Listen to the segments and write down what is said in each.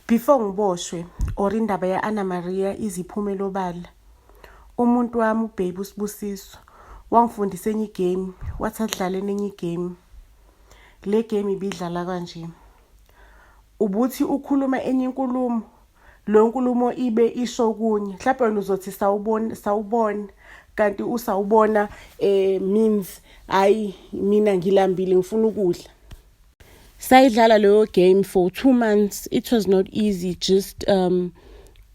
Before ngiboshwe or indaba ya Anna Maria iziphumela obala. Umuntu wami ubaby usibusiso wangifundisa enye igame wathi adlale nenye igame. Le game ibidlala kanje. Ubuthi ukhuluma enye inkulumo lo nkulumo ibe isho kunye mhlawumbe wena uzothi sawubona sawubona kanti usawubona eh means hayi mina ngilambile ngifuna ukudla sayidlala leyo game for two months it was not easy just um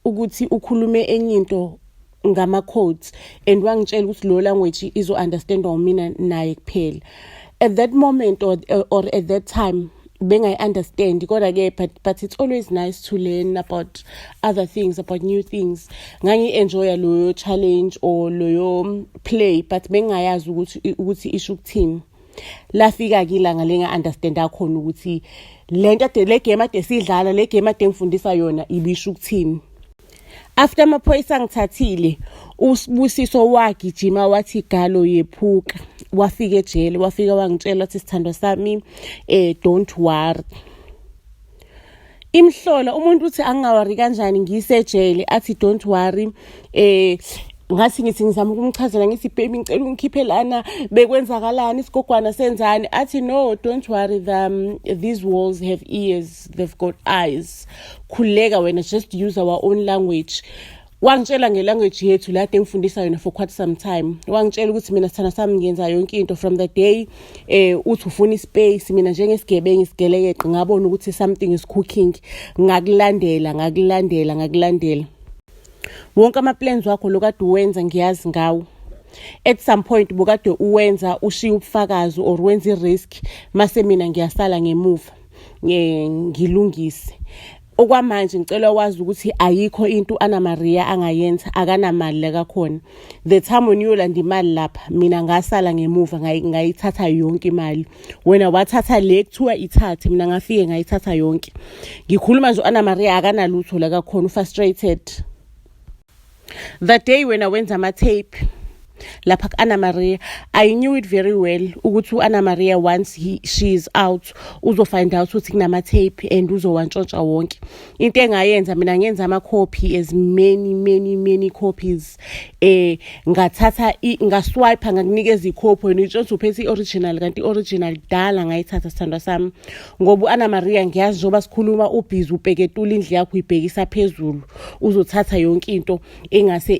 ukuthi ukhulume enye into ngama-codes and wangitshela ukuthi lo language izo-understandwa umina naye kuphela at that moment or, or at that time bengayi-understand kodwa-ke but, but it's always nice to learn about other things about new things ngangi-enjoya loyo challenge or loyo play but bengingayazi ukuthi isho ukuthini lafika-ke ilanga linga-understanda khona ukuthi le nto ade le game ade sidlala le game ade ngifundisa yona ibisho ukuthini after amaphoyisa angithathile usibusiso wagijima wathi galo yephuka wafika ejele wafika wangitshela wathi sithandwa sami um don't worry imhlola umuntu uthi angingawari kanjani ngisejele athi don't worry eh ngathi ngithi ngizama ukumchazela ngithi baby ngicela ungikhiphe lana bekwenzakalani isigogwana senzani athi no don't worry the, um, these walls have ears they've got eyes khuleka wena just use our own language wangitshela ngelanguage yethu la engifundisa yona for quite some time wangitshela ukuthi mina sithanda sami ngenza yonke into from the day eh uthi ufuna ispace mina njengesigebengu isigelekeqe ngabona ukuthi something is cooking ngakulandela ngakulandela ngakulandela wonke ama plans wakho lokade uwenza ngiyazi ngawo at some point bukade uwenza ushiya ubufakazi or wenza i-risk mase mina ngiyasala ngemuva ngilungise okwamanje ngicela wazi ukuthi ayikho into ana Maria angayenza akanamali la kakhona the time uniyolanda imali lapha mina ngasala ngemuva ngayithatha yonke imali wena wathatha le kuthiwa ithathe mina ngafike ngayithatha yonke ngikhuluma nje ana Maria akanalutho la kakhona ufrustrated The day wena wenza ama tape lapha ku-anna maria i knew it very well ukuthi u-anna maria once he, she is out uzofind out ukuthi kunama-tape and uzowantshontsha wonke into engayenza mina ngenza ama-copy as many many many copies eh ngathatha ngaswipe ngakunikeza ikhophi wena itshontsha uphethe i-original kanti i-original kudala ngayithatha sithandwa sami ngoba u-ana maria ngiyazi njengoba sikhuluma ubhizi upeketula indlu yakho uyibhekisa phezulu uzothatha yonke into engase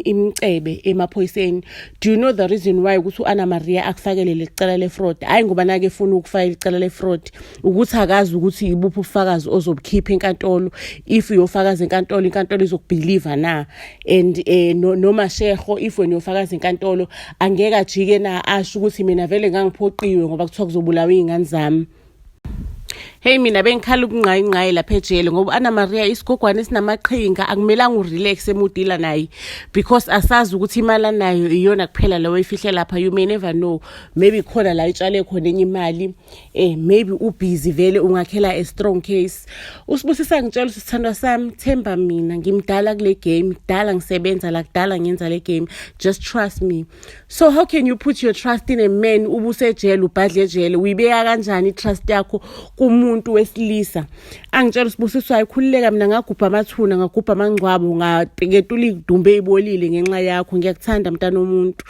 imcebe emaphoyiseni do you know the reason why ukuthi u-ana maria akufakele leli cala le-fraud hhayi ngoba nake efuna ukufaka leli cala le-fraud ukuthi akazi ukuthi yibuphi ubufakazi ozobukhipha enkantolo if uyofakaza enkantolo inkantolo izokubhiliva na and eh no, noma sheho if wena uyofakaza inkantolo angeke ajike na asho ukuthi mina vele ngangiphoqiwe ngoba kuthiwa kuzobulawa izingane zami Hey mina bengikhala ukungqayi ngqayi lapha ejele ngoba Anna Maria isigogwane sinamaqhinga akumelanga urelax emudila naye because asazi ukuthi imali anayo iyona kuphela leyo ifihlela lapha you may never know maybe khona la itshale khona enye imali eh maybe ubusy vele ungakhela a strong case usibusisa ngitshela ukuthi sithandwa sami themba mina ngimdala kule game dala ngisebenza la kudala ngenza le game just trust me so how can you put your trust in a man ubusejele ubhadle ejele uyibeka kanjani itrust yakho kumuntu wesilisa angitshela usibusiswa ayikhululeka mina ngagubha amathuna ngagubha amangcwabo ngapeketula idumbe ibolile ngenxa yakho ngiyakuthanda mntana omuntu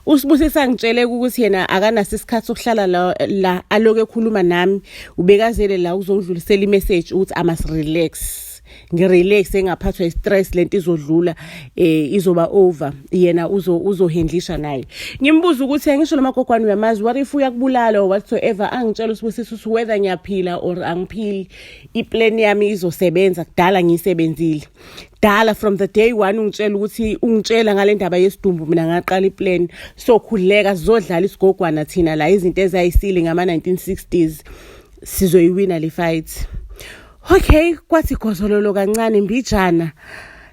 usibusisa ngitshele ukuthi yena akanaso isikhathi sokuhlala la, la aloku ekhuluma nami ubekazele la ukuzongidlulisela imessage ukuthi i must relax ngirelax engaphathwa istress lento izodlula eh izoba over yena uzo uzohendlisha naye ngimbuza ukuthi angisho noma gogwani uyamazi what if uyakubulala or whatsoever angitshela usibusisa ukuthi whether ngiyaphila or angiphili iplan yami izosebenza kudala ngiyisebenzile dala from the day one ungitshela ukuthi ungitshela ngale ndaba yesidumbu mina ngaqala iplan sokhuleka sizodlala isigogwana thina la izinto ezayisile ngama-1960s sizoyiwina le fight okay kwathi gozololo kancane mbijana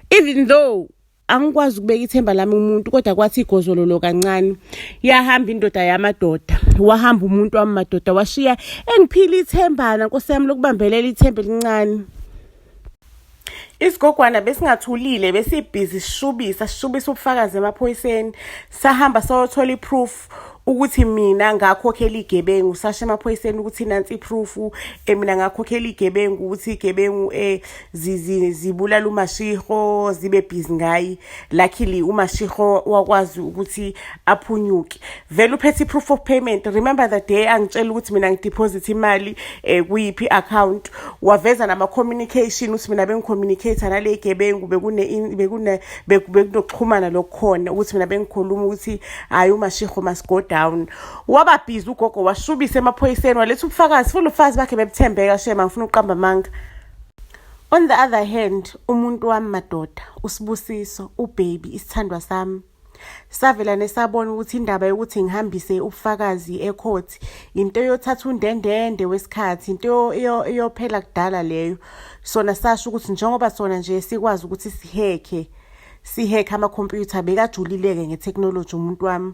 even though angikwazi ukubeka ithemba lami umuntu kodwa kwathi igozololo kancane yahamba indoda yamadoda wahamba umuntu wami madoda washiya engiphile ithembana nkosi yami lokubambelela ithemba elincane isigogwana besingathulile besibhizi sishubisa sishubisa ubufakazi emaphoyiseni sahamba sayothola iproof ukuthi mina ngakhokhela igebengu sasho emaphoyiseni ukuthi nansi iproof eh, mina ngakhokhela igebengu ukuthi igebengu eh zibulala umashiho zibe busy ngayi luckily umashiho wakwazi ukuthi aphunyuke vele uphethe i-proof of payment remember the day angitshela ukuthi mina ngideposit imali um kuyiphi i-account waveza nama-communication ukuthi mina bengicommunicate-a nale gebengu bekunokuxhumana lokukhona ukuthi mina bengikhuluma ukuthi hhayi umashiho must go down waba bhizi ugogo washubisa emaphoyiseni waletha ubufakazi futhi ubufakazi bakhe bebuthembeka shema ngifuna ukuqamba amanga On the other hand, umuntu wami madoda, uSibusiso, ubaby, isithandwa sami, savela nesabona ukuthi indaba yokuthi ngihambise ubufakazi ecourt into yothatha undendende wesikhathi into iyophela kudala leyo sona sasho ukuthi njengoba sona nje sikwazi ukuthi sihekhe sihekha amakhompyutha bekajulileke ngethekhnoloji umuntu wami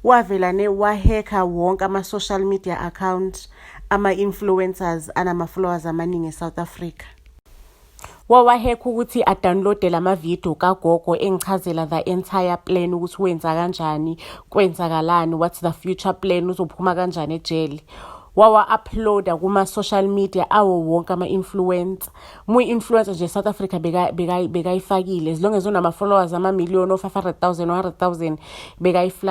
wavela ne wahekha wonke ama-social media account ama-influencers anama-followers amaningi e-south africa wawahekha ukuthi adownloade la mavidiyo kagogo engichazela the entire plan ukuthi wenza kanjani kwenzakalani what's the future plan uzophuma kanjani ejele wawa-uploada kuma-social media awo wonke ama-influencer muyi-influencer nje south africa bekayifakile beka, beka as long as unama-followers amamiliyoni o-five hundred thousand one hundred thousand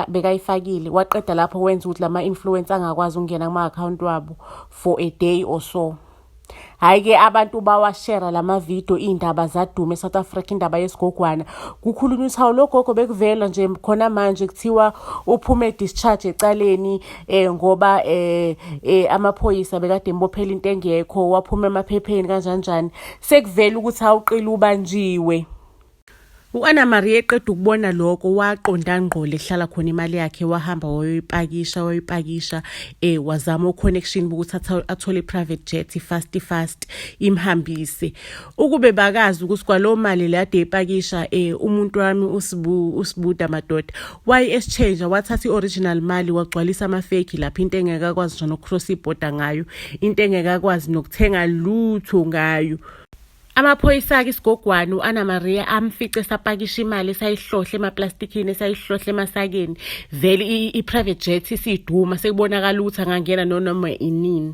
bekayifakile beka waqeda lapho wenza ukuthi lama-influence angakwazi ukungena kuma-akhawunti wabo for a day or so hhayi ke abantu bawashera la mavidiyo iy'ndaba zadume e-south africa indaba yesigogwana kukhulunywa ukuthi hawu lo gogo bekuvela nje khona manje kuthiwa uphume discharge ecaleni eh ngoba eh, eh amaphoyisa bekade embophela into engekho waphuma emaphepheni kanjani njani sekuvela ukuthi awuqili ubanjiwe U-Anna Maria eqeda ukubona lokho waqonda ngqo lehlala khona imali yakhe wahamba wayoyipakisha wayoyipakisha eh wazama uconnection ukuthi athole private jet fast fast imhambise ukube bakazi ukuthi kwalowo mali le ade ipakisha eh umuntu wami usibu usibuda madoda why exchange wathatha ioriginal mali wagcwalisa ama fake lapha into engeke akwazi nje nokcross iborder ngayo into engeke akwazi nokuthenga lutho ngayo amaphoyisa ake isigogwane u-ana maria amfice esapakisha imali esayihlohle emaplastikini esayihlohle emasakeni vele i-private jet isiduma sekubonakala ukuthi angangena nonoma inini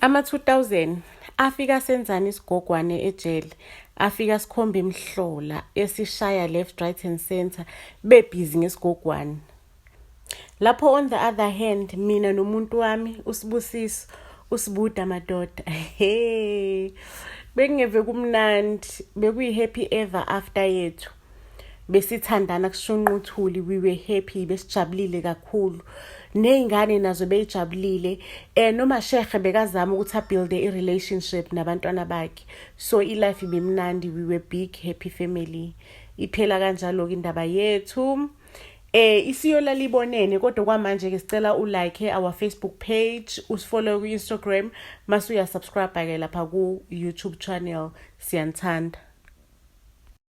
Ama-2000 afika senzani isigogwane ejele afika sikhomba imhlola esishaya left right and center bebhizi ngesigogwane lapho on the other hand mina nomuntu wami usibusiso usibuda madoda he bekungeve kumnandi bekuyi-happy ever after yethu besithandana kushunqa uthuli we were happy besijabulile kakhulu ney'ngane nazo beyijabulile um nomashehe bekazama ukuthi abuilde i-relationship nabantwana bakhe so ilife ibimnandi we were big happy family iphela kanjalo-ke indaba yethu eh isiyola libonene kodwa kwamanje ke sicela u like our Facebook page usifollow ku Instagram mase uya subscribe ke lapha ku YouTube channel siyanthanda